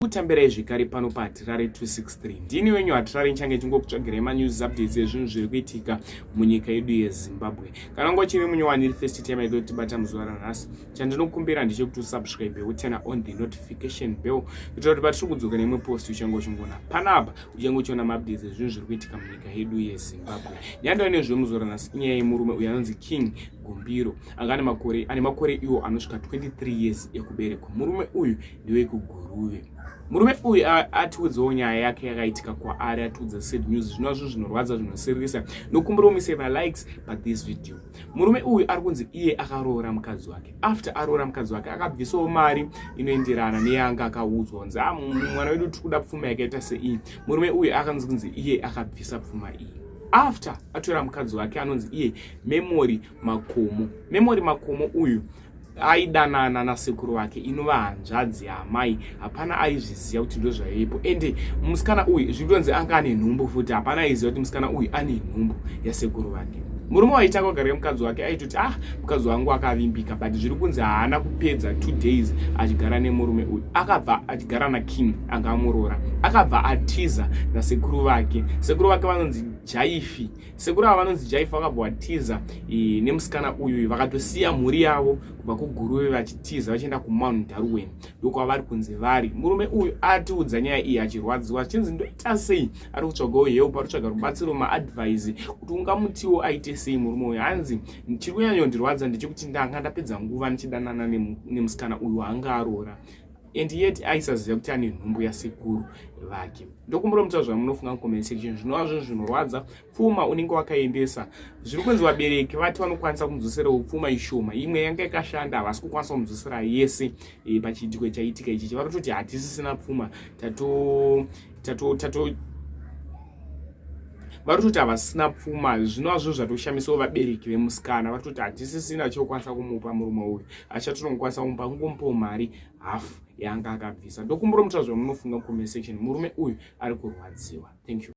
kutambirai zvekare pano pahatirare 263 ndini wenyu hatirare nchange chingokutsvagirai manews updates ezvinhu zviri kuitika munyika yedu yezimbabwe kana unga uchiri munyowani iri first time aida kutibata muzuva ranhasi chandinokumbira ndechekuti usubscribe uturna on the notification bell kuitira kuti patiri kudzoka neimwe post uchange uchingoona panapa uchange uchiona maupdates ezvinhu zviri kuitika munyika yedu yezimbabwe nyandova nezve muzuva ranhasi inyaya yemurume uyo anonzi king gumbiro anga ane makore ane makore iwo anosvika 23 years ekuberekwa murume uyu ndewekuguruve murume uyu atiudzawo nyaya yake yakaitika kwaari atiudza sad news zvinova zvinhu zvinorwadza zvinosiririsa nokumbira umise malikes but this video murume uyu ari kunzi iye akaroora mukadzi wake after aroora mukadzi wake akabvisawo mari inoenderana neyanga akaudzwa kunzi ah, mwana wedu tiri kuda pfuma yakaita seiyi murume uyu akanzi kunzi iye akabvisa pfuma iyi after atora mukadzi wake anonzi iye memory makomo memory makomo uyu aidanana nasekuru vake inova hanzvadzi yaamai hapana aizviziva kuti ndozvaivepo ende musikana uyu zvitonzi anga ane nhumbu futi hapana aiziva kuti musikana uyu ane nhumbu yasekuru vake murume waitanga kugara mukadzi wake aitoti ah mukadzi wangu akavimbika but zviri kunzi haana kupedza two days achigara nemurume uyu akabva achigara nakim anga amurora akabva atiza nasekuru vake sekuru vake vanonzi jaifi sekuru ava vanonzi jaifa vakabva vatiza e, nemusikana uyu vakatosiya mhuri yavo kubva kuguruve vachitiza vachienda kumount darwen ndokwa vari kunzi vari murume uyu atiudza nyaya iyi achirwadziwa achinzi ndoita sei ari kutsvagawo help ari kutsvaga rubatsiro maadvise kuti ungamutiwo aite sei murume uyu hanzi chiri kunyanyondirwadza ndechekuti ndanga ndapedza nguva ndichidanana nemusikana uyu anga aroora and yet aisaziva kuti ane nhumbu yasekuru vake ndokumuromutsa zvamunofunga mucomment section zvinova zvinhu zvinorwadza pfuma unenge wakaendesa zviri kunzi vabereki vati vanokwanisa kumudzoserawo pfuma ishoma imwe yanga ikashanda havasi kukwanisa kumudzosera yese e, pachiitiko chaitika ichichi varototi hatisisina pfuma tato tato tato vari kutoti havasina pfuma zvinova zvinhu zvatoshamisawo vabereki vemusikana vari kutoti hatisisina chokwanisa kumupa murume uyu achatonokwanisa kumba kungomupawo mari half yaanga akabvisa ndokumbura mutora zvamunofunga comment section murume uyu ari kurwadziwa thank you